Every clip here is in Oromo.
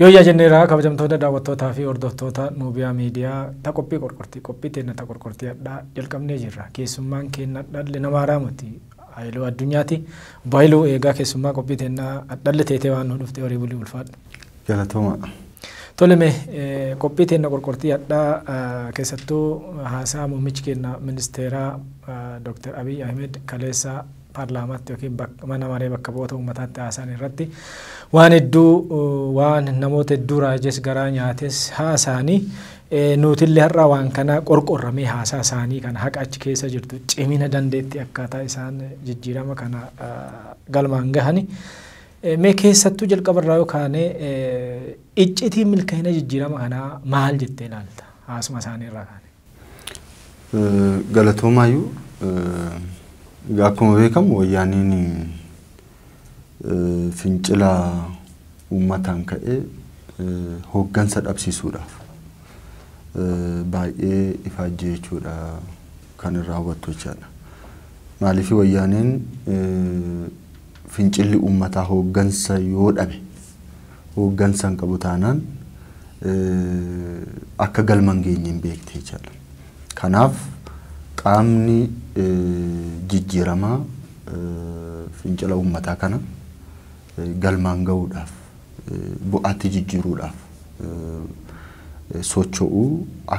Yooyyaa jenneeraa kabajamtoota daawwattootaa fi hordoftoota Nuubiyaa Miidiyaa ta qophii qorqortii qophii teenna ta qorqortii hadhaa jalqabnee jirra. Keessummaan keenna hadhalle nama haaraa miti. Hayiluu Addunyaati. Obbo Hayiluu eegaa keessummaa qophii teenna hadhalle teetee waan nu dhufte horii bulii ulfaadhu. Galatooma. Tole mee eh, qophii teenna qorqortii hadhaa eh, keessattuu haasaa muummichi keenna ministeeraa eh, Dr. Abiy Ahmed kaleessa paarlaamaatti yookiin mana maree bakka bu'oota uummataatti haasa'an irratti waan hedduu waan namoota hedduu raajes garaa nyaates haasa'anii nuutillee har'a waan kana qorqorramee haasaa isaanii kana haqa achi keessa jirtu cimina dandeetti akkaataa isaan jijjiirama kana galmaan gahani. Mee keessattuu jalqaba irraa yoo kaane iccitiin milkaa'ina jijjiirama kanaa maal jettee ilaalta haasuma isaanii irraa kaane? Galatoomaayyu egaa akkuma beekamu wayyaaniin fincila uummataan ka'e hooggansa dhabsiisuudhaaf baay'ee ifaajjii jechuudha kan irraa hubattu jechaadha. Maaliif wayyaaniin fincilli uummataa hooggansa yoo dhabe hooggansa hin qabu taanaan akka galma hin geenye hin beekti jechaadha. Kanaaf qaamni jijjiiramaa fincila uummataa kana galmaan ga'uudhaaf bu'aatti jijjiiruudhaaf socho'u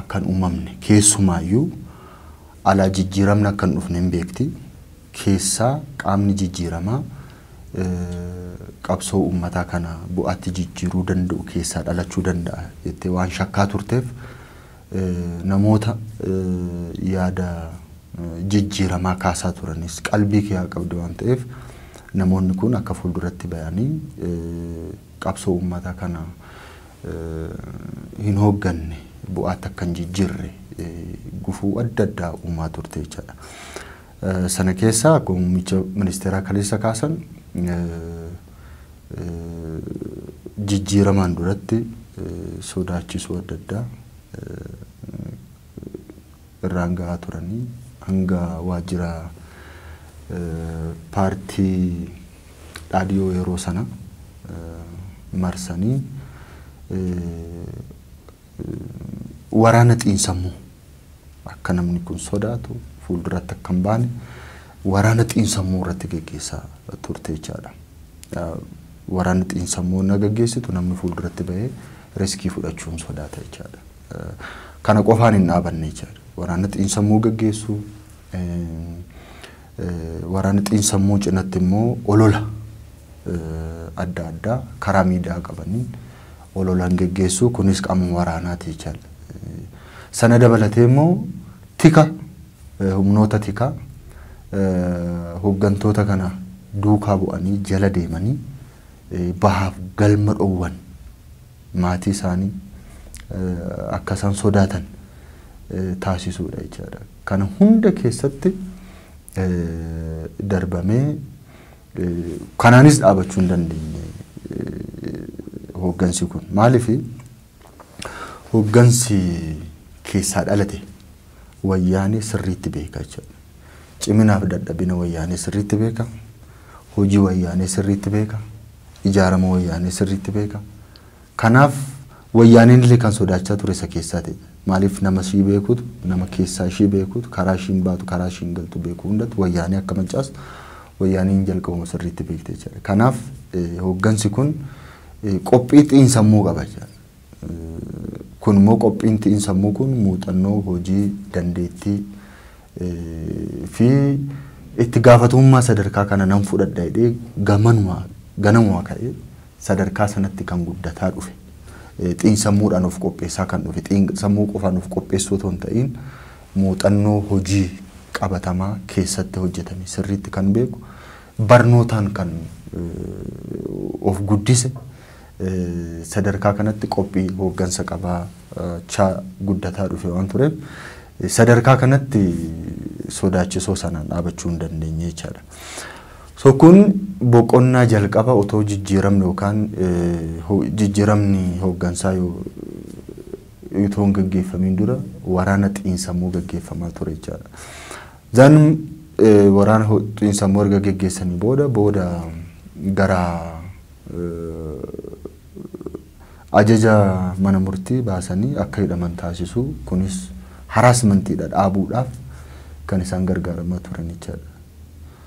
akka hin uumamne keessumaayyuu alaa jijjiiramni akka hin dhufne hin beekti. Keessaa qaamni jijjiiramaa qabsoo uummataa kana bu'aatti jijjiiruu danda'u keessaa dhalachuu danda'a jettee waan shakkaa turteef namoota yaada jijjiiramaa kaasaa turanis qalbii kee qabdi waan ta'eef namoonni kun akka fuulduratti bayanii qabsoo uummataa kana hin hoogganne bu'aatti akka hin jijjiirre gufuu adda addaa uumaa turte jechaadha. Sana keessaa akkuma muummicha ministeeraa kaleessa kaasan jijjiiramaan duratti sodaachisuu adda addaa irraan ga'aa turanii hanga waajjira paartii dhaadhiyoo yeroo sana marsanii waraana xiinsammuu akka namni kun sodaatu fuulduratti akka hin baane waraana xiinsammuu irratti geggeessaa turte jechaadha. Waraanni xiinsammuu na geggeessitu namni fuulduratti bahee riskii fudhachuun sodaata jechaadha. Kana qofaan hin dhaabanne jechaadha. Waraanni xiinsammuu geggeessu waraanni xiinsammuu cinatti immoo olola adda addaa karaa miidiyaa qabaniin ololaan geggeessuu kunis qaama waraanaati jechaan. Sana dabalatee immoo tika humnoota tikaa hoggantoota kana duukaa bu'anii jala deemanii bahaaf galma dhoowwan maatii isaanii akka isaan sodaatan taasisuudha jechaadha. Kana hunda keessatti darbamee Kanaanis dhaabachuu hin dandeenye hooggansi kun. Maaliif hooggansi keessaa dhalate wayyaanee sirriitti beeka jechuudha. Ciminaaf dadhabina wayyaanee sirriitti beeka. Hojii wayyaanee sirriitti beeka. Ijaarama wayyaanee sirriitti beeka. Kanaaf wayyaaneen illee kan sodaachaa ture isa keessaati. Maaliif nama ishii beekutu, nama keessaa ishii beekutu, karaa ishiin baatu, karaa ishiin galtu beeku hundatti wayyaanee akka mancaastu wayyaaneen jalqabuma sirriitti beekte jechaadha. Kanaaf hooggansi kun qophii xiinsammuu qaba jechaadha. Kun immoo qophiin xiinsammuu kun muuxannoo, hojii, dandeettii fi itti gaafatamummaa sadarkaa kana nan fudhadha jedhee gamanuma ganamuma ka'ee sadarkaa sanatti kan guddataa dhufe, xiinsammuudhaan of qopheessaa kan dhufe, xiinsammuu qofaan of qopheessuu otoo hin ta'iin muuxannoo hojii qabatamaa keessatti hojjetame sirriitti kan beeku, barnootaan kan of guddise sadarkaa kanatti qophii hooggansa qabaachaa guddataa dhufe waan tureef sadarkaa kanatti sodaachisoo sanaan dhaabachuu hin dandeenye jechaadha. So kun boqonnaa jalqaba otoo jijjiiramni yookaan jijjiiramni hooggansaa otoo hin gaggeeffamiin dura waraana xiinsammuu gaggeeffamaa ture jechaadha. Zan waraana xiinsammuu erga gaggeessanii booda booda gara ajaja mana murtii baasanii akka hidhaman taasisuu kunis haraasmantiidha dhaabuudhaaf kan isaan gargaaramaa turan jechaadha.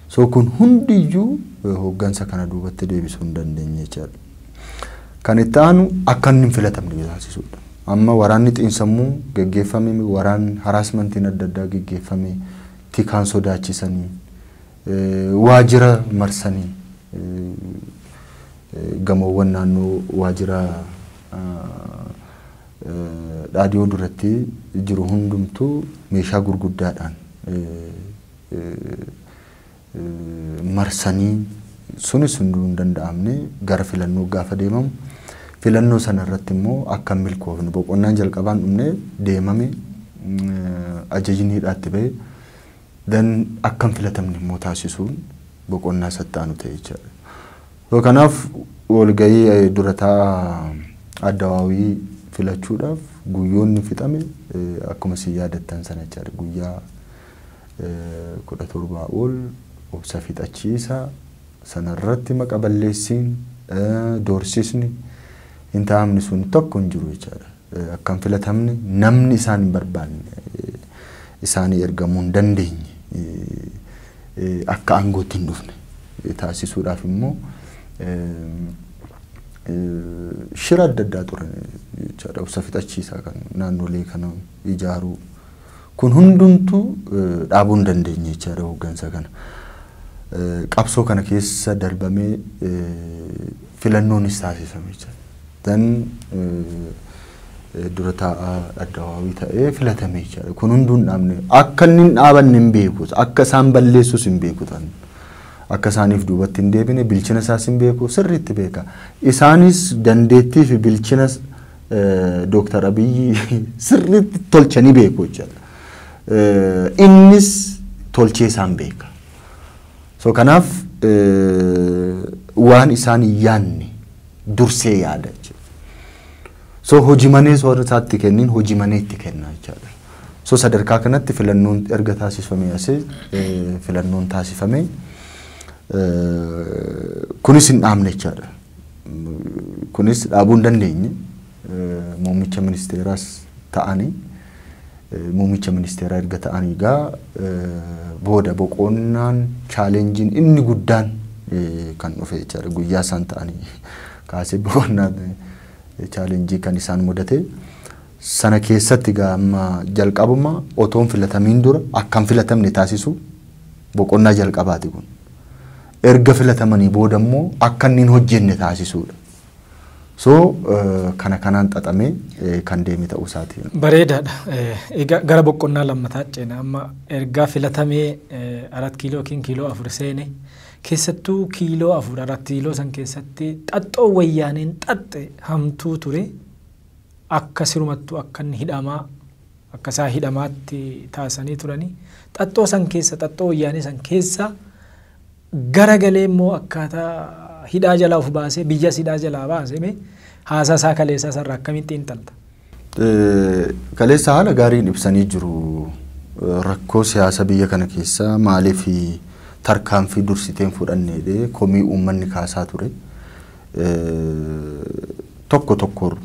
So kun hundi iyyuu hooggansa kana duubatti deebisuu hin dandeenye jechaadha. Kan itti aanu akka inni hin filatamne taasisuudha. Amma waraanni xiinsammuu geggeeffame waraan haraasmantiin adda addaa geggeeffame tikaan sodaachisanii waajjira marsanii gamoowwan naannoo waajjira dhaadhiyoo duratti jiru hundumtuu meeshaa gurguddaadhaan marsanii sunis hunduu hin danda'amne gara filannoo gaafa deemamu filannoo sana irratti immoo akka hin milkoofne boqonnaan jalqabaan dhumne deemame ajajni hidhaatti ba'e dan akka hin filatamne immoo taasisuun boqonnaa isatti aanu ta'e jechaadha. So kanaaf walgahii dura taa'aa addawaawii filachuudhaaf guyyoonni fixame akkuma isin yaadattan sana jechaadha guyyaa 17 ol obsa fixachiisa, sanarratti maqa balleessiin, doorsisni, hin taa'amne sun tokko hin jiru jechaadha. Akka hin filatamne, namni isaan hin barbaanne isaanii ergamuu hin dandeenye, akka aangootti hin dhufne taasisuudhaaf immoo shira adda addaa turan jechaadha. Obsa fixachiisaa kan naannolee kana ijaaruu. Kun hundumtuu dhaabuu hin dandeenye jechaadha hooggansa kana. Qabsoo kana keessa darbamee filannoonis taasifame jechaadha. Dan dura taa'aa addawaawii ta'ee filatame jechaadha. Kun hunduu hin dhaabne. Akka inni hin dhaabanne hin beeku. Akka isaan balleessus hin beeku tan. Akka isaaniif duubatti hin deebine bilchina isaas hin beeku sirriitti beeka. Isaanis dandeettii fi bilchina Dooktar Abiyyi sirriitti tolchanii beeku jechuudha. Innis tolchee isaan beeka. So kanaaf waan isaan hin yaanne dursee yaada jechuudha. So hojii manee soorri isaatti kenniin hojii manee itti kenna jechuudha. So sadarkaa kanatti filannoon erga taasifamee asee filannoon taasifamee kunis hin dhaamne jechuudha. Kunis dhaabuu hin dandeenye. Muummicha ministeeraas ta'anii muummicha ministeeraa erga ta'anii egaa booda boqonnaan chaalenjiin inni guddaan kan dhufe jechaadha. Guyyaa isaan ta'anii kaasee boqonnaan chaalenjii kan isaan mudate. Sana keessatti egaa amma jalqabuma otoon filatamiin dura akkan filatamne taasisu boqonnaa jalqabaati kun. Erga filatamanii booda immoo akka inni hin hojjenne taasisuu dha. So kana kanaan xaxamee kan deeme ta'uu isaa ti. Bareedaa dha. Egaa gara boqqonnaa lammataa ceena. Amma ergaa filatamee arat kiiloo yookiin kiiloo afur seene keessattuu kiiloo afur arat kiiloo san keessatti xaxxoo wayyaaneen xaxxe hamtuu ture akka sirumattuu akka inni hidhamaa Akka isaa hidhamaatti taasisanii turanii. Xaxxoo san keessa, xaxxoo wayyaanee san keessa gara galee immoo akkaataa hidhaa jalaa of baasee biyyas hidhaa jalaa baase mee haasaa isaa kaleessaa sarara akkamiin xiinxalta? Kaleessa haala gaariin ibsanii jiru. Rakkoo siyaasa biyya kana keessaa maaliif tarkaanfii dursiteen fudhanneedhe komii uummanni kaasaa ture. tokko tokkoon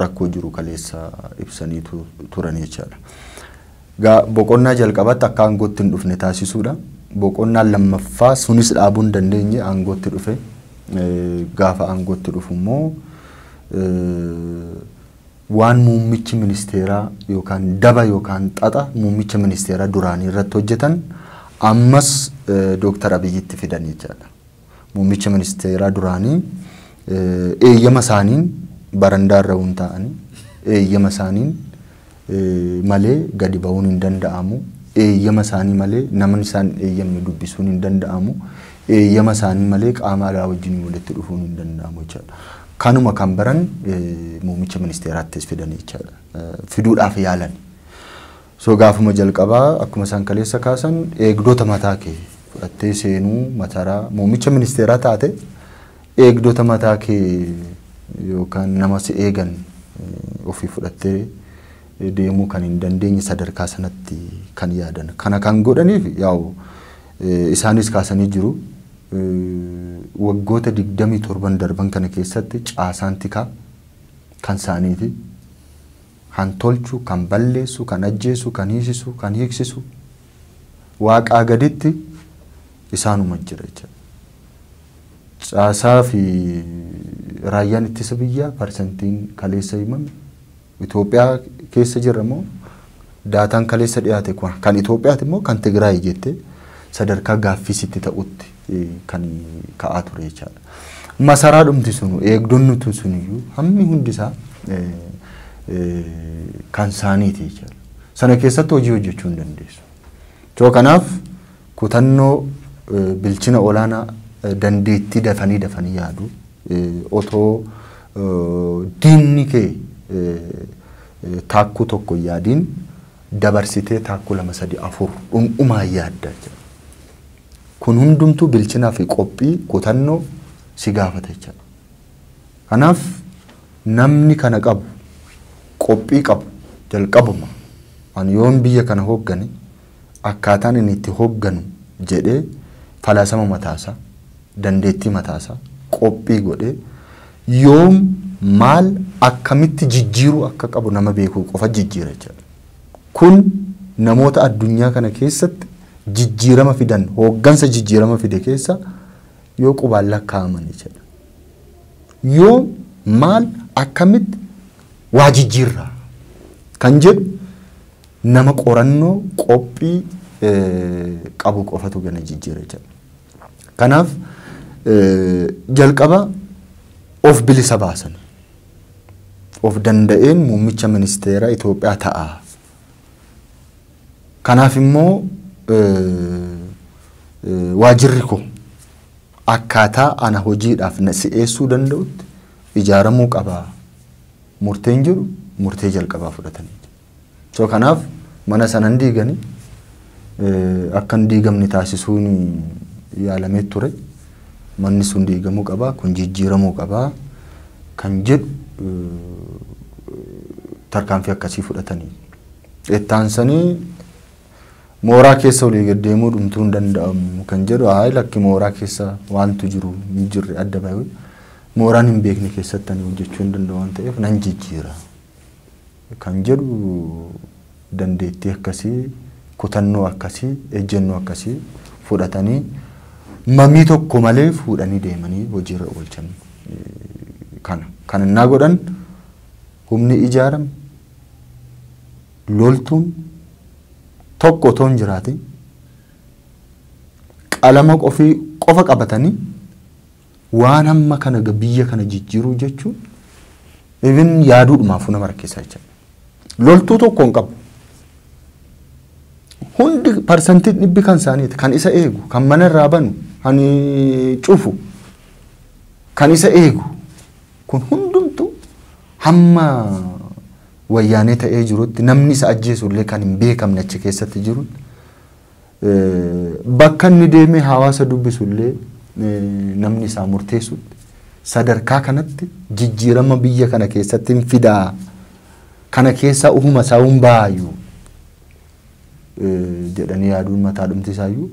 rakkoo jiru kaleessa ibsanii tu- turan jechaadha. Gaa boqonnaa jalqabaatti akka aangootti hin dhufne taasisuudha. Boqonnaa lammaffaa sunis dhaabuu hin dandeenye aangootti dhufe. Eh, Gaafa aangootti dhufu immoo eh, waan muummichi ministeeraa yookaan daba yookaan xaxa muummicha ministeeraa duraanii irratti hojjetan ammas eh, Dooktar Abiyyitti fidan jechaadha. Muummicha ministeeraa duraanii eeyyama isaaniin barandaa irra hin taa'anii eeyyama isaaniin malee gadi ba'uun hin danda'amu. Eeyyama isaanii malee namni isaan eeyyamne dubbisuun hin danda'amu. Eeyyama isaanii malee qaama alaa wajjin walitti dhufuun hin danda'amu jechaadha. Kanuma kan baran muummicha ministeeraattis fidan jechaadha. Fiduudhaaf yaalan. So gaafuma jalqabaa akkuma isaan kaleessa kaasan eegdota mataa kee fudhattee seenuu mataraa muummicha ministeeraa taate eegdota mataa kee yookaan nama si eegan ofii fudhattee deemuu kan hin dandeenye sadarkaa sanatti kan yaadan. Kana kan godhaniif yaa'u isaanis kaasanii jiru. Waggoota 27 darban kana keessatti caasaan tikaa kan isaaniiti. kan tolchu, kan balleessu, kan ajjeesu, kan hiisisu, kan hiiksisu Waaqaa gaditti isaanuma jira jechuudha. Caasaa fi raayyaan ittisa biyyaa parsantiin kaleessa himame Itoophiyaa keessa jira moo daataan kaleessa dhiyaate kun kan Itoophiyaati moo kan Tigraay jettee sadarkaa gaaffii sitti ta'utti kan ka'aa ture jechaadha. Masaraa dhumti sunu eegdonni tun suniyyuu hammi hundi isaa kan saaniiti jechaadha. Sana keessatti hojii hojjechuu hin dandeessu. Too kanaaf kutannoo bilchina olaanaa dandeettii dafanii dafanii yaadu otoo diinni kee taakkuu tokko yaadiin dabarsitee taakkuu lama sadii afur dhundhumaa yaadda jechuudha. Kun hundumtuu bilchinaa fi qophii, kutannoo si gaafata jechaadha. Kanaaf namni kana qabu, qophii qabu jalqabuma ani yoon biyya kana hooggane akkaataan inni itti hoogganu jedhee falaasama mataasaa, dandeettii mataasaa qophii godhee yoom, maal, akkamitti jijjiiruu akka qabu nama beekuu qofa jijjiira jechaadha. Kun namoota addunyaa kana keessatti jijjiirama fidan, hooggansa jijjiirama fide keessa yoo qubaan lakkaa'aman ija dha. Yoom, maal, akkamitti waa jijjiirra kan jedhu nama qorannoo, qophii qabu qofatu gana jijjiira ija dha. Kanaaf jalqaba of bilisa baasanii. of danda'een muummicha ministeera Itoophiyaa ta'a. Kanaaf immoo waajirri koo akkaataa ana hojiidhaaf na si'eessuu danda'utti ijaaramuu qaba murteen jedhu murtee jalqabaa fudhatanii jiru. So kanaaf mana sana hin diigani akka hin diigamne taasisuun yaalamee ture. Manni sun diigamuu qaba, kun jijjiiramuu qaba kan jedhu tarkaanfii akkasii fudhatanii. Ittaansanii mooraa keessa olii gad deemuu dhumtuu hin danda'amu kan jedhu haa lakki mooraa keessa waantu jiru hin jirre adda bahee mooraan hin beekne keessatti ani hojjechuu hin danda'u waan ta'eef nan jijjiira. kan jedhu dandeettii akkasii, kutannoo akkasii, ejjennoo akkasii fudhatanii mamii tokko malee fuudhanii deemanii hojiirra oolchan kana. Kan innaa godhan humni ijaarame loltuun tokko otoo hin jiraatin qalama qofii qofa qabatanii Waan hamma kana ga biyya kana jijjiiruu jechuun even yaaduudhumaafuu nama rakkisa jecha. Loltuu tokko hin qabu. Hundi parsantiin dhibbi kan isaaniiti. Kan isa eegu, kan mana irraa banu, kan eh, cufu, kan isa eegu. Kun hundumtu hamma wayyaanee ta'ee jirutti namni isa ajjeesu illee kan hin beekamne achi keessatti jirutti bakka inni deemee hawaasa dubbisu illee namni isaa murteessu sadarkaa kanatti jijjiirama biyya kana keessatti hin fidaa kana keessaa ufuma isaa hin baayu jedhanii yaaduun mataa dhumti isaayyuu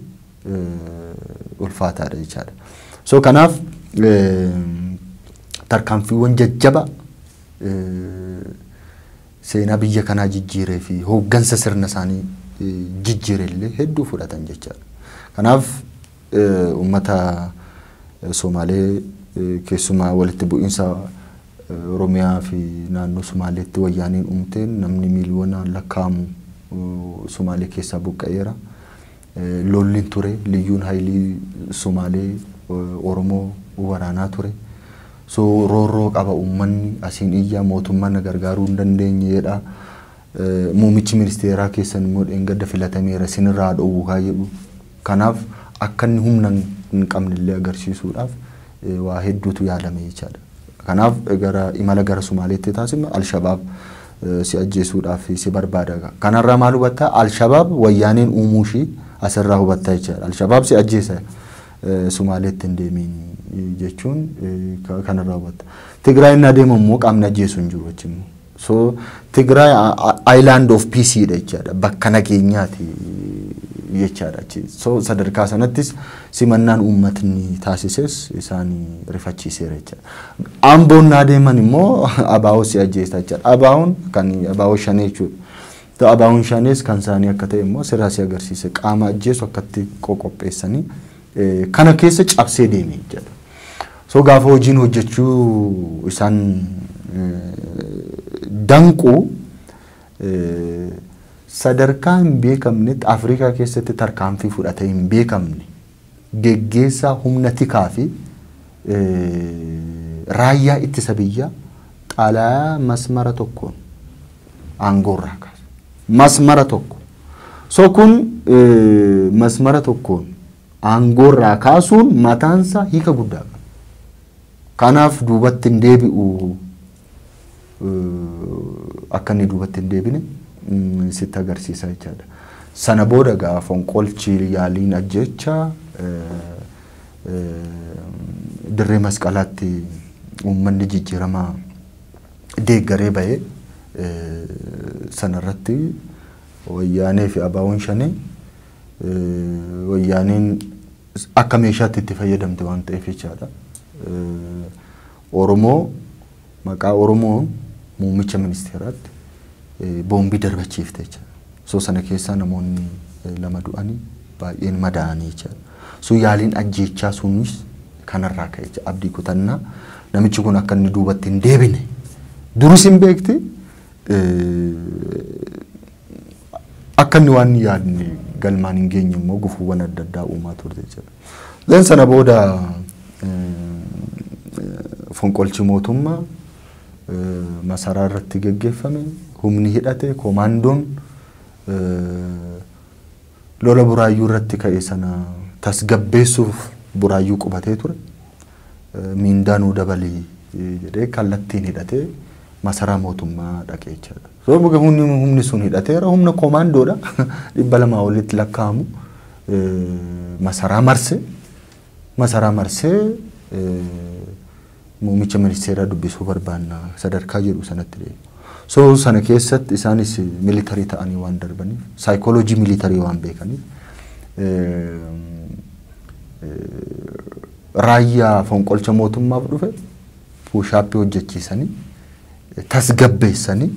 ulfaataadha jechaadha. So kanaaf tarkaanfiiwwan jajjaba seenaa biyya kanaa jijjiiree fi hooggansa sirna isaanii jijjiire illee hedduu fudhatan jechaadha. Kanaaf uummata Somaalee keessumaa walitti bu'iinsa Oromiyaa fi naannoo Somaaleetti wayyaaneen uumteen namni miiliyoonaan lakkaa'amu Somaalee keessaa buqqa'eera. Lolli ture. Liyyuun Hayilii Somaalee Oromoo waraanaa ture. So roorroo qaba uummanni asiin iyyaa mootummaan na gargaaruu hin dandeenye jedha. Muumichi ministeeraa keessan immoo dheengadda filatameera sinirraa haa dhoowwu kaa jedhu. Kanaaf akka inni humna hin qabne illee agarsiisuudhaaf waa hedduutu yaalame jechaadha. Kanaaf gara imala gara Somaaleetti taasifnu Alshabaab si ajjeesuudhaaf si barbaada. Kanarraa maal hubatta? Alshabaab wayyaaneen uumuu ishii asirraa hubatta jechaadha. Alshabaab si ajjeesa Sumaaleetti hin deemiin jechuun kanarraa hubatta. Tigraay inni adeemu immoo qaamni ajjeesu hin jiru achi immoo. So Tigraay island of peace dha jechaadha. Bakka nageenyaati jechaadha achi. So sadarkaa sanattis simannaan uummatni taasises isaan rifachiiseera jechaadha. Amboo innaa deeman immoo abaawoo si ajjeesta jechaadha. Abaawoon kan abaawoo shanee jechuudha. Ta'u abaawoon shanees kan isaanii akka ta'e immoo sirraa si agarsiise qaama ajjeesu akkatti qoqopheessanii kana keessa cabsee deeme jechaadha. So gaafa hojiin hojjechuu isaan danqu sadarkaa hin beekamnetti Afrikaa keessatti tarkaanfii fudhatee hin beekamne geggeessaa humna tikaa fi raayyaa ittisa biyyaa xalayaa masmara tokkoon aangoorraa kaase. Masmara tokko. So kun masmara tokkoon aangoorraa kaasuun mataansaa hiika guddaa qaba. Kanaaf duubatti hin deebi'u akka inni duubatti hin deebine sitti agarsiisa jechaadha. Sana booda gaa fonqolchi yaaliin ajjeecha dirree masqalaatti uummanni jijjiirama deeggaree bahee sanarratti wayyaanee fi abaawoon shanee wayyaaneen akka meeshaatti itti fayyadamte waan ta'eef jechaadha. Oromoo maqaa Oromoon muummicha ministeeraatti boombii darbachiifte jecha. So sana keessaa namoonni lama du'ani baay'een madaa'anii jecha. So yaaliin ajjeechaa sunis kanarraa ka'e jecha abdii kutannaa namichi kun akka inni duubatti hin deebine duris hin beekti akka inni waan yaadne galmaan hin geenye immoo gufuuwwan adda addaa uumaa turte jechuudha. Then sana booda fonqolchi mootummaa masaraa irratti geggeeffame humni hidhate koomaandoon lola buraayyuu irratti ka'e sana tasgabbeessuuf buraayyuu qubatee ture. Miindaa nuu dabalii jedhee kallattiin hidhatee masaraa mootummaa dhaqee jechaadha. Rooba gahuun humni sun hidhateera. Humna koomaandoodha. Dhibba lamaa olitti lakkaa'amu masaraa marse. Masaraa marsee muummicha ministeeraa dubbisuu barbaanna sadarkaa jedhu sanatti deema. So sana keessatti isaanis militarii ta'anii waan darbaniif saayikooloojii militarii waan beekaniif raayyaa fonqolcha mootummaaf dhufe puushaappii hojjechiisanii tasgabbeessanii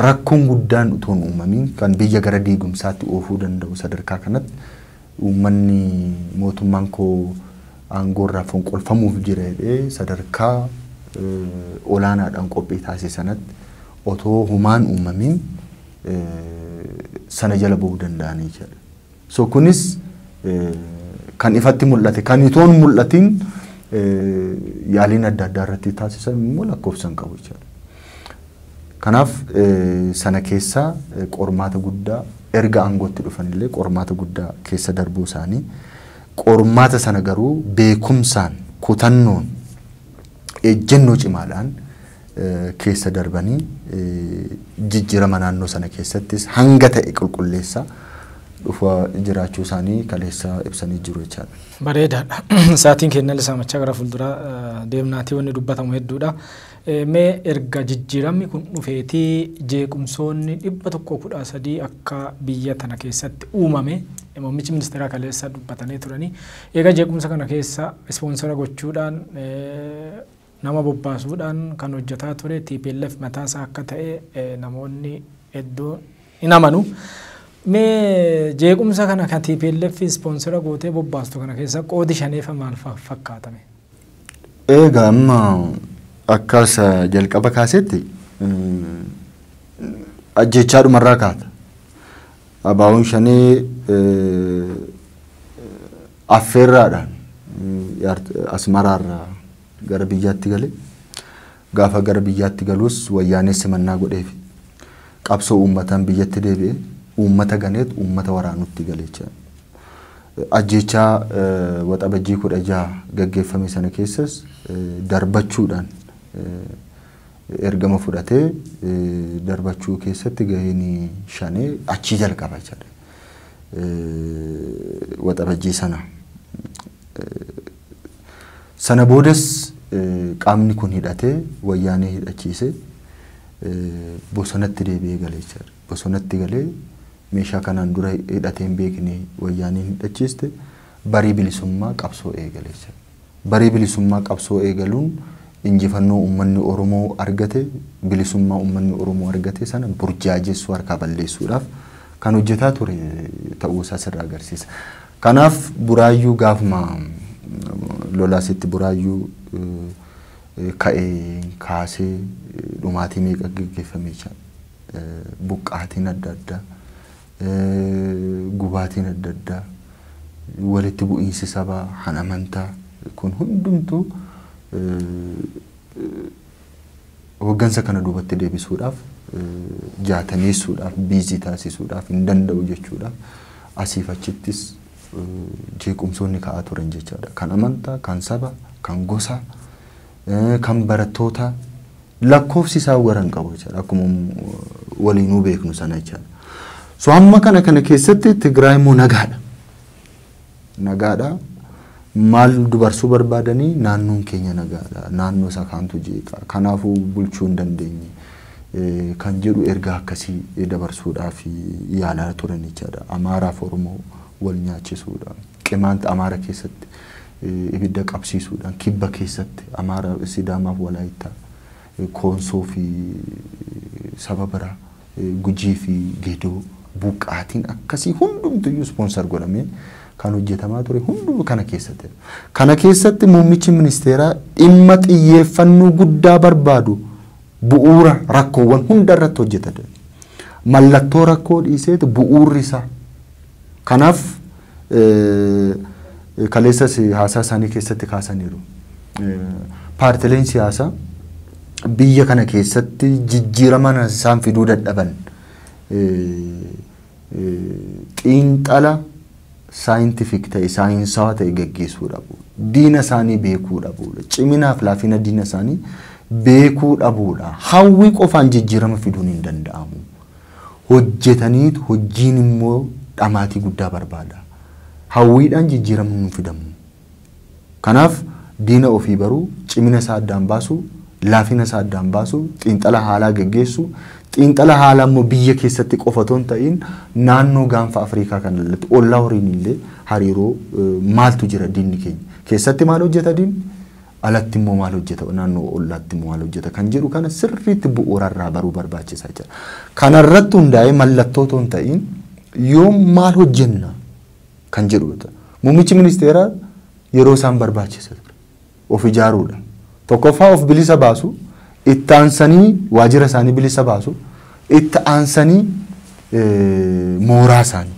rakkoon guddaan utuu hin uumamiin kan biyya gara diigumsaatti oofuu danda'u sadarkaa kanatti uummanni mootummaan koo aangoorraa fonqolfamuuf jira jedhee sadarkaa olaanaadhaan qophii taasise sanatti otoo humaan uumamiin sana jala ba'uu danda'anii jedha. So kunis kan ifatti mul'ate kan itoon mul'atiin yaaliin adda addaa irratti taasisan immoo lakkoofsan qabu jechuudha. Kanaaf sana keessaa qormaata guddaa erga aangootti dhufanillee qormaata guddaa keessa darbuu isaanii qormaata sana garuu beekumsaan kutannoon ejjennoo cimaadhaan keessa darbanii jijjiirama naannoo sana keessattis hanga ta'e qulqulleessa dhufa jiraachuu isaanii kaleessa ibsanii jiru jechaadha. Bareedaadha. Sa'aatiin keenya illee saamachaa gara fuulduraa deemnaatii wanni dubbatamu hedduudha. Mee erga jijjiiramni kun dhufeetii jeequmsoonni dhibba tokko kudha sadii akka biyya tana keessatti uumame muummichi ministeeraa kaleessa dubbatanii turanii. Egaa jeequmsa kana keessa ispoonsara gochuudhaan Nama bobbaasuudhaan kan hojjetaa ture tplf mataa isaa akka ta'e namoonni hedduun hin amanu. Mee jeequmsa kana kan tplf ispoonsera gootee bobbaastu kana keessa qoodi shaneefa maal fa- fakkaata mee? Eegaa amma akkas eh, jalqaba kaasetti eh, ajjechaa dhumarraa kaata. Abaawoon shanee eh, Affeerraadhaan Asmaraarraa gara biyyaatti gale. Gaafa gara biyyaatti galuus Wayyaanee simannaa godheefi. Qabsoo uummataan biyyatti deebi'ee uummata ganeet uummata waraanuutti gale jechaadha. Ajjeechaa Waxabajjii 16 gaggeeffame sana keessas darbachuudhaan ergama fudhatee darbachuu keessatti gaheen Shanee achii jalqaba jechaadha. waxabajjii sana. Sana boodas qaamni kun hidhatee wayyaanee hidhachiisee bosonatti deebi'ee gale jechaadha. Bosonatti galee meeshaa kanaan dura hidhatee hin beekne wayyaaneen hidhachiiste barii bilisummaa qabsoo eegale jechaadha. Baree bilisummaa qabsoo eegaluun injifannoo ummanni Oromoo argate, bilisummaa ummanni Oromoo argate sana burjaajessuu, harkaa balleessuudhaaf kan hojjetaa ture ta'uu isaa sirraa agarsiisa. Kanaaf Buraayyuu gaafuma lola asitti Buraayyuu ka'een kaasee dhumaatii meeqa geggeeffame jechaadha. Buqqaatiin adda addaa gubaatiin adda addaa, walitti bu'iinsi sabaa, kan amantaa kun hundumtuu hoggansa kana duubatti deebisuudhaaf jaataneessuudhaaf biizii taasisuudhaaf hin danda'u jechuudha. Asiif achittis jeequmsoonni ka'aa turan jechaadha. Kan amantaa, kan sabaa, kan gosaa Kan barattootaa lakkoofsi isaa wara hin qabu jechaadha. Akkuma waliinuu beeknu sana jechaadha. So amma kana kana keessatti Tigraay immoo nagaadha. Nagaadha. Maal dubarsuu barbaadanii naannoon keenya nagaadha. Naannoo isa kaantu jeeqa. Kanaafuu bulchuu hin dandeenye. Kan jedhu ergaa akkasii dabarsuudhaaf yaalaa turan jechaadha. Amaaraaf Oromoo wal nyaachisuudha. Qimaant Amaara keessatti ibidda qabsiisuudhaan kibba keessatti Amaara, Sidaamaaf Walaayittaa, Koonsoo fi saba biraa Gujii fi Gedoo buqqaatiin akkasii hundumtu iyyuu sponsor godhamee kan hojjetamaa ture hundumuu kana keessatti. Kana keessatti muummichi ministeeraa dhimma xiyyeeffannoo guddaa barbaadu Bu'uura rakkoowwan hunda irratti hojjeta jedha. Mallattoo rakkoo dhiiseeti bu'uurri isaa. Kanaaf kaleessas haasaa isaanii keessatti kaasaniiru. Paartileen siyaasaa biyya kana keessatti jijjiirama isaan fiduu dadhaban Xiinxala saayintifik ta'e, saayinsaawaa ta'e gaggeessuu dhabuu. Diina isaanii beekuu dhabuudha. Ciminaaf laafina diina isaanii beekuu dhabuudha. Hawwii qofaan jijjiirama fiduun hin danda'amu. Hojjetaniitu hojjiin immoo dhamaatii guddaa barbaada. Hawwiidhaan jijjiiramni hin fidamu. Kanaaf, diina ofii baruu, cimina isaa addaan baasuu, laafina isaa addaan baasuu, xiinxala haalaa geggeessuu, xiinxala haalaa immoo biyya keessatti qofa otoo hin ta'iin naannoo gaanfa Afriikaa kana irratti ollaa waliin illee hariiroo maaltu jira diinni keenya? Keessatti maal hojjeta diinni? Alatti immoo maal hojjeta? Naannoo ollaatti immoo maal hojjeta? Kan jedhu kana sirriitti bu'uura irraa baruu barbaachisa jechuudha. Kana irratti hundaa'ee mallattoo otoo hin ta'iin yoom maal hojjenna? kan jedhuudha. Muummichi ministeeraa yeroo isaan barbaachisa ture. Of ijaaruudha. Tokkoffaa of bilisa baasu, itti aansanii waajjira isaanii bilisa baasu, itti aansanii eh, mooraa isaanii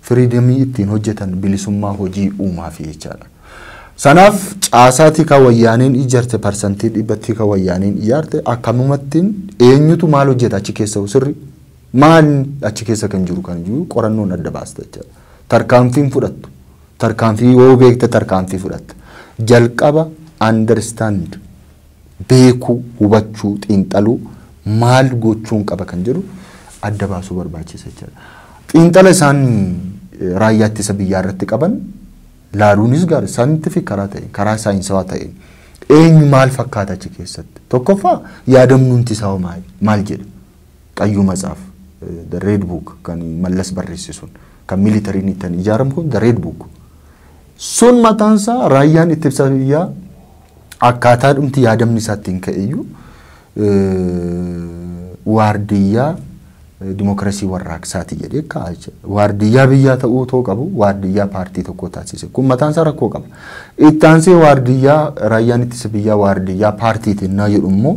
firiidamii ittiin hojjetan bilisummaa hojii uumaa fi jechaadha. Sanaaf caasaa tika wayyaaneen ijaarte parsantii dhibba tika wayyaaneen ijaarte akkanumattiin eenyutu maal hojjeta achi keessa sirri Maal achi keessa kan jiru kan jiru qorannoon adda baasta jechaadha. Tarkaanfiin fudhattu tarkaanfii yoo beekte tarkaanfii fudhatta. Jalqaba understand beekuu, hubachuu, xiinxaluu maal gochuun qaba kan jedhu adda baasuu barbaachisa jechaadha. Xiinxala isaan raayyaa ittisa biyyaa irratti qaban laaluunis gaari saayintifik karaa ta'een karaa saayinsawaa ta'een eenyu maal fakkaata achi keessatti tokkoffaa yaadamnuunti isaa maal jedha. Qayyuu Matsaaf, The Red Book, kan Mallas barreesse sun, kan militariin ittiin ijaaramu kun The Red Book. Sun mataan isaa raayyaan ittisa biyyaa akkaataa dhumti yaadamni isaa ittiin ka'eyyuu waardiyyaa dimookiraasii warraaqsaati jedhee kaa'a jechuudha. Waardiyyaa biyyaa ta'uu otoo qabu waardiyyaa paartii tokkoo taasise. Kun mataan isaa rakkoo qaba. Itti aansee waardiyyaa raayyaan ittisa biyyaa waardiyyaa paartiitiin naa jedhu immoo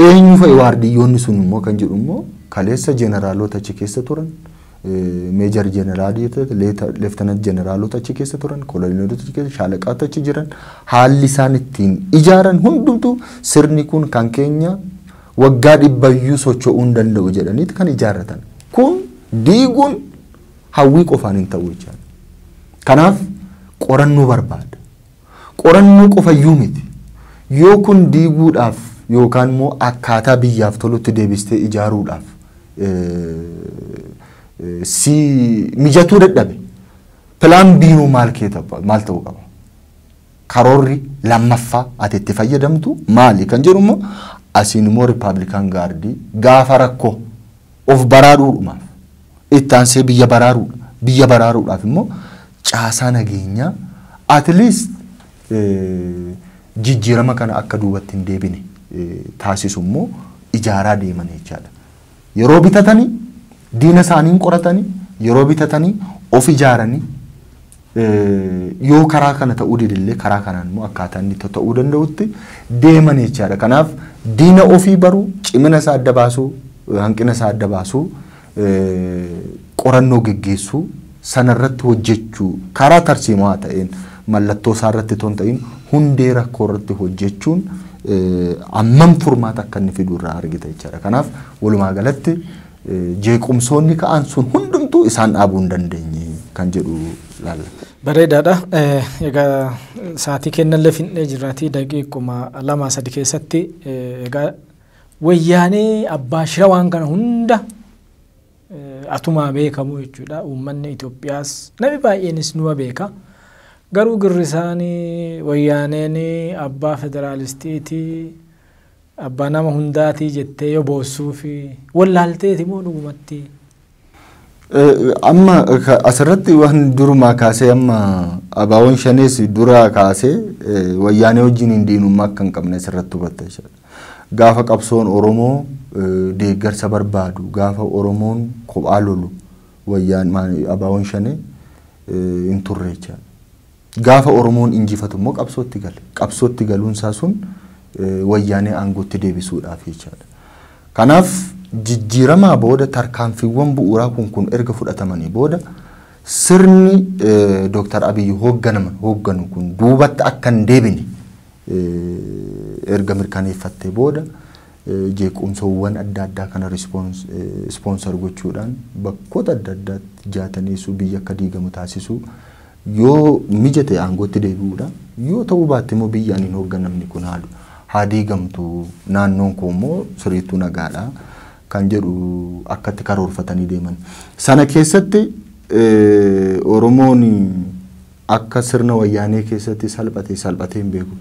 Eenyu fa'i waardiyyoonni sun immoo kan jedhu immoo kaleessa jeneraalota achi keessa turan, meejar jeneraalii, leeftanant jeneraalota achi keessa turan, koloneelota achi keessa, shaalaqaatu achi jiran, haalli isaan ittiin ijaaran hundumtuu sirni kun kan keenya waggaa dhibbayyuu socho'uu hin danda'u jedhaniiti kan ijaarratan. Kun diiguun hawwii qofaan hin ta'u jechaadha. Kanaaf qorannoo barbaada. Qorannoo qofayyuu miti. Yoo kun diiguudhaaf yookaan immoo akkaataa biyyaaf tolutti deebistee ijaaruudhaaf si mijatuu dadhabe plan B hoo maal kee ta'u- maal ta'uu qaba? Karoorri lammaffaa ati itti fayyadamtu maali kan jedhu immoo asiin immoo Rippaabilikaan Gaardii gaafa rakkoo Of baraaruudhumaaf, itti aansee biyya baraaruudha. Biyya baraaruudhaaf immoo caasaa nageenyaa at least jijjiirama kana akka duubatti hin deebine taasisu immoo ijaaraa deeman jechaadha. Yeroo bitatanii diina isaanii hin qoratanii yeroo bitatanii of ijaaranii Yoo karaa kana ta'uu dide illee karaa kanaan immoo akkaataa inni ta'uu danda'utti deeman jechaadha. Kanaaf diina ofii baruu, cimina isaa adda baasuu, hanqina isaa adda baasuu, qorannoo geggeessuu, sanarratti hojjechuu karaa tarsiimaa ta'een mallattoo isaa irratti otoo hin ta'in hundee rakkoo irratti hojjechuun ammam furmaata akka inni fidu irraa argita jechaadha. Kanaaf walumaa galatti Jeequmsoonni ka'an sun hundumtuu isaan dhaabuu hin dandeenye kan jedhu ilaalla. Bareedaadha. Egaa sa'aatii kennallee fixnee jirraatii daqiiquma lamaa sadi keessatti egaa wayyaanee abbaa shira waan kana hunda atumaa beekamu jechuudha. Uummanni Itoophiyaas namni baay'eenis numa beeka. Garuu girrisaanii wayyaaneen abbaa federaalistiitii Abbaa nama hundaati jettee yoo boossuufi wallaalteeti moo dhugumatti? Amma asirratti waan durumaa kaasee amma abaawoon shanees duraa kaasee wayyaanee wajjiniin diinummaa akka hin qabne asirratti hubatta jechuudha. Gaafa qabsoon Oromoo deeggarsa barbaadu, gaafa Oromoon kophaa lolu wayyaan abaawoon shanee hin turre jechuudha. Gaafa Oromoon injifatu immoo qabsootti gale. Qabsootti galuun isaa sun Wayyaanee aangootti deebisuudhaafi jechaadha. Kanaaf jijjiiramaa booda tarkaanfiiwwan bu'uuraa kun kun erga fudhatamanii booda sirni Dooktar Abiy hoogganaman hoogganu kun duubatti akka hin deebine erga mirkaneeffattee booda jeequmsawwan adda addaa kana ispoonsar gochuudhaan bakkoota adda addaatti jaataneessuu biyyi akka diigamu taasisuu Yoo mijate aangootti deebi'uudha. Yoo ta'uu baatte immoo biyyi ani hin hoogganamne kun haa diigamtu, naannoon koo immoo siriittuu nagaadha kan jedhu akka itti karoorfatanii deeman. Sana keessatti Oromoon akka sirna Wayyaanee keessatti salphate salphatee hin beeku.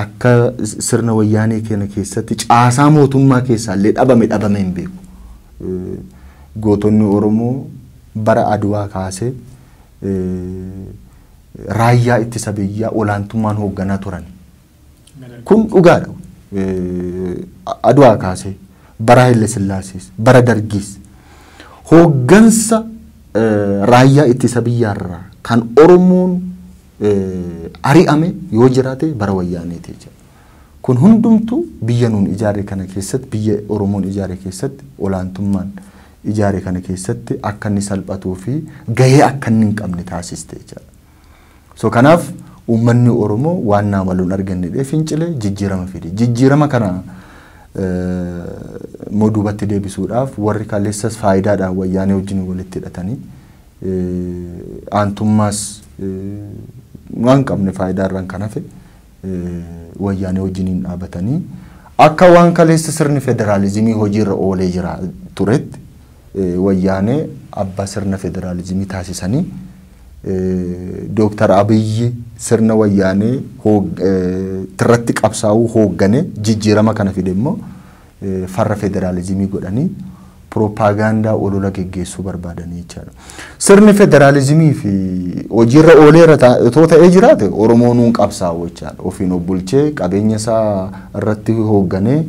Akka sirna wayyaanee keena keessatti caasaa mootummaa keessaa illee dhabame dhabamee hin beeku. Gootonni Oromoo bara Adwaa kaasee raayyaa ittisa biyyaa olaantummaan hoogganaa turan. Kun dhugaadha. Adwaa kaasee bara Haile Sillaasees bara Dargiis hooggansa raayyaa ittisa biyyaarraa kan Oromoon ari'ame yoo jiraate bara wayyaaneeti jechuudha. Kun hundumtuu biyya nuun ijaarre kana keessatti biyya Oromoon ijaare keessatti olaantummaan ijaare kana keessatti akka inni salphatuu fi gahee akka inni hin qabne taasiste jechuudha. So kanaaf uummanni Oromoo waan naa maluun argannedhee fincile jijjiirama fide. Jijjiirama kana immoo duubatti deebisuudhaaf warri kaleessas faayidaadhaan wayyaanee wajjin walitti hidhatanii aantummaas waan qabne faayidaa irraan kan hafe wayyaanee wajjiniin dhaabatanii akka waan kaleessa sirni federaalizimii hojiirra oolee jira turetti wayyaanee abbaa sirna federaalizimii taasisanii Dooktar Abiyyi sirna wayyaanee irratti qabsaa'uu hooggane jijjiirama kana fide immoo farra federaalizimii godhanii pirooppaagaandaa olola geggeessuu barbaadanii jechaadha. Sirni federaalizimii fi hojiirra ooleera otoo ta'ee jiraate Oromoo nuun qabsaa'u jechaadha. Ofiin of bulchee qabeenya isaa irratti hoogganee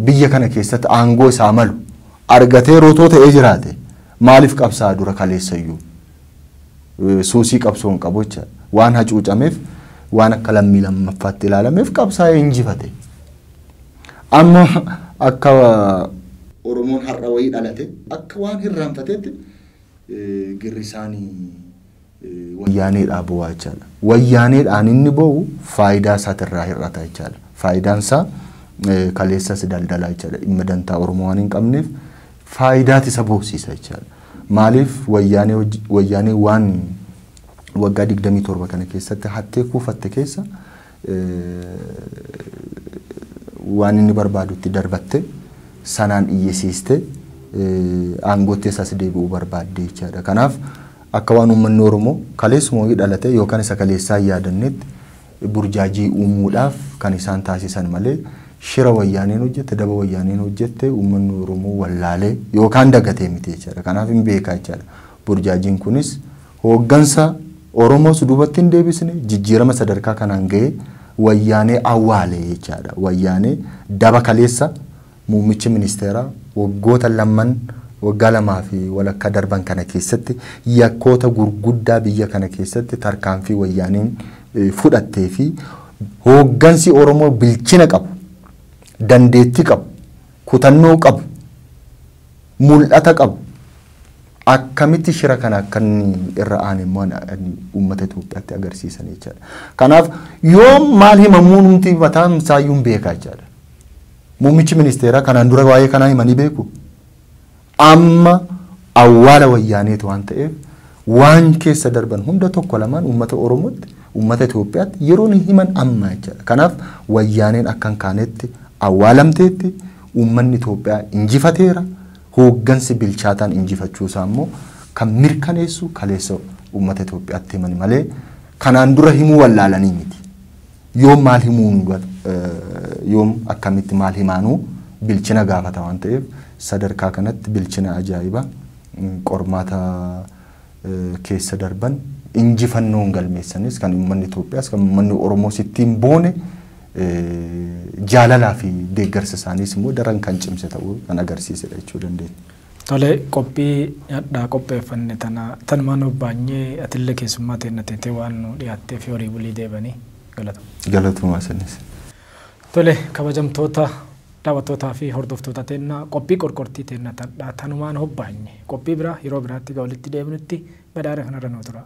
biyya kana keessatti aangoo isaa malu argatee rotoo ta'ee jiraate maaliif qabsaa'a dura kaleessayyuu? Suusii qabsoo hin qabu jecha waan hacuucameef waan akka lammii lammaffaatti ilaalameef qabsaa'ee injifate. Amma akka Oromoon har'a wayii dhalate akka waan hirraanfateetti girrisaan wayyaaneedhaa boo'aa jechaadha. Wayyaaneedhaan inni boo'u faayidaa isaatirraa hir'ata jechaadha. Faayidaan isaa kaleessas daldalaa jechaadha. Dhimma dantaa Oromoo waan hin qabneef faayidaat isa boosiisa jechaadha. Maaliif wayyaanee hojj wayyaanee waan waggaa 27 kana keessatti hattee kuufatte keessa waan inni barbaadu itti darbatte sanaan iyyisiiste aangootti isaas deebi'uu barbaadde jechaadha. Kanaaf akka waan uummanni Oromoo kaleessuma wayii dhalatee yookaan isa kaleessaa hin yaadannetti burjaajii uumuudhaaf kan isaan taasisan malee shira wayyaaneen hojjette, daba wayyaaneen hojjette uummanni Oromoo wallaalee yookaan dagatee miti jechaadha. Kanaaf hin beekaa jechaadha. Burjaajiin kunis hooggansa Oromoos duubatti hin deebisne, jijjiirama sadarkaa kanaan ga'ee wayyaanee awwaale jechaadha. Wayyaanee daba kaleessa Muummichi ministeeraa waggoota lamman waggaa lamaa fi walakkaa darban kana keessatti yakkoota gurguddaa biyya kana keessatti tarkaanfii wayyaaneen fudhattee fi hooggansi Oromoo bilchina qabu, dandeettii qabu, kutannoo qabu, mul'ata qabu akkamitti shira kana akka inni irra aane immoo uummata Itoophiyaatti agarsiisan jechaadha. Kanaaf yoom maal himamuu numti mataan isaayyuu hin beeka jechaadha. Muummichi ministeeraa kanaan dura waa'ee kanaa himanii beeku? Amma awwaala wayyaaneeti waan ta'eef waan keessa darban hunda tokko lamaan uummata Oromootti, uummata Itoophiyaatti yeroon himan amma jechaadha. Kanaaf wayyaaneen akka hin kaanetti awwaalamteetti, uummanni Itoophiyaa injifateera, hooggansi bilchaataan injifachuu isaa immoo kan mirkaneessu kaleessa uummata Itoophiyaatti himani malee kanaan dura himuu wallaalanii miti. Yoom maal himuu nu ga- eh, yoom akkamitti maal himaanuu bilchina gaafata waan ta'eef sadarkaa kanatti bilchina ajaa'iba mm, qormaata eh, keessa darban injifannoon galmeessanis kan uummanni Itoophiyaas kan uummanni Oromoos ittiin boone eh, jaalalaa fi deeggarsa isaaniis immoo daran kan cimse ta'uu kan agarsiisedha jechuu dandeenya. Tole qophii hadhaa qopheeffanne tana tanumaa nuuf baanyee atille keessummaa teenna teetee waan nuu dhiyaatteefi horii bulii deebani galatoma. Galatoomaa isinis. Tole kabajamtoota daawwattootaa fi hordoftoota teenna qophii qorqortii teenna tardhaa tanumaan hobbaanye qophii biraa yeroo biraatti ga walitti deebinutti badhaadha kanarra nuu turaa.